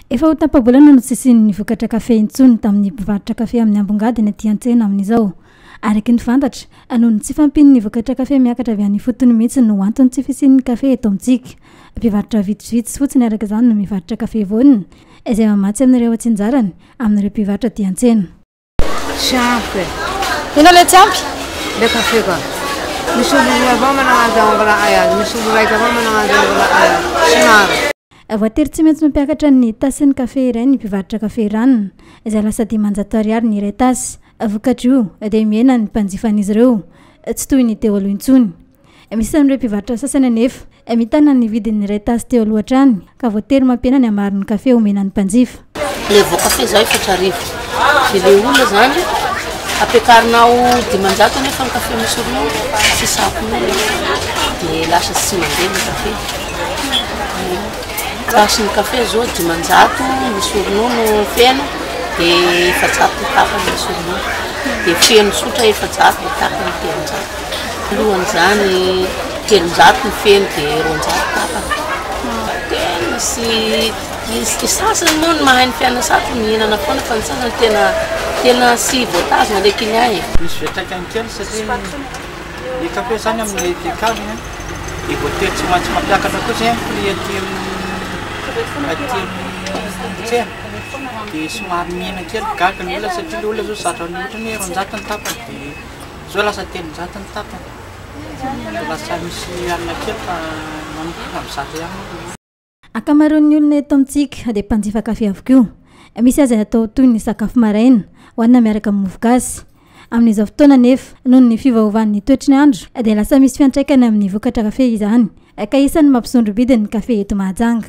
Efa ho tapa-bolana no tsy hisian'ny vokatra kafe intsony tamin'ny mpivarotra kafe amin'ny ambongady eny aty an-tsena amin'izao. Araky ny fantatra, noho ny tsy fahampian'ny vokatra kafe miakatra avy any ifotony mihitsy no anton'ny tsy fisian'ny kafe eto amintsika. Mpivarotra vitsivitsy fotsiny araka izany no mivarotra kafe vonona, izay mamatsy an'ireo atsinjarany amin'ireo mpivarotra aty an-tsena. Tsy ampy e. Inona ilay tsy ampy? Ilay kafe ka. Misy olo roa avao manao an'izay mbola hay azy, misy olo raika avao manao an'izay mbola hay azy. Tsy maro. Voatery tsy maintsy mampiakatra ny tasin'ny kafe iray ny mpivarotra kafe ranona, izay lasa dimanjato ariary ny iray tasy. Vokatr'io, dia mihena ny mpanjifan'izy ireo, tsy toy ny teo aloha intsony. Misy amin'ireo mpivarotra sasany anefa mitana ny vidiny iray tasy teo aloha hatrany ka voatery mampiena ny hamaron'ny kafe homena ny mpanjifa. Ilay voakafe izao efatra arivo, dia ilay olona izany ampiakarinao dimanjato anefa ny kafe nosoronao, tsy sampona eo, dia lasa tsy mandeha ny kafe. Tasy ny kafe izao dimanjato ny soronao no feno, dia efajato ny tapany ny soronao, dia feno tsotra efajato dia tapany telonjato. Alohan'izany, telonjato ny feno dia roanjato tapany. Dia misy ny sasany moa ny mahay ny fiainana sarotra mihinana foana fa ny sasany tena tena tsy voatazona ilay client e. Misy fiantraikany kely satria ny kafe izany amin'ny decaf dia voatery tsy maintsy mampiakatra koa izay ny prix aty amin'ny aty amin'ny tsena dia somary mihena kely gaga ny olona satria ilay olona izao zatra ny otrany hoe roanjato ny tapany dia Zao lasa telonjato ny tapany de lasa misy alina kely fa manomboka am zato ihany moa. Ankamaroan'ny olona eto amintsika dia mpanjifa kafe avokoa. Misy aza ny atao toy ny sakafo maraina, hohanina miaraka amin'ny mofogasy. Amin'izao fotoana anefa, noho ny fiovaovan'ny toetry ny andro, dia lasa misy fiantraikany amin'ny vokatra kafe izany, ka isan'ny mampisondro-bidy ny kafe eto Mahajanga.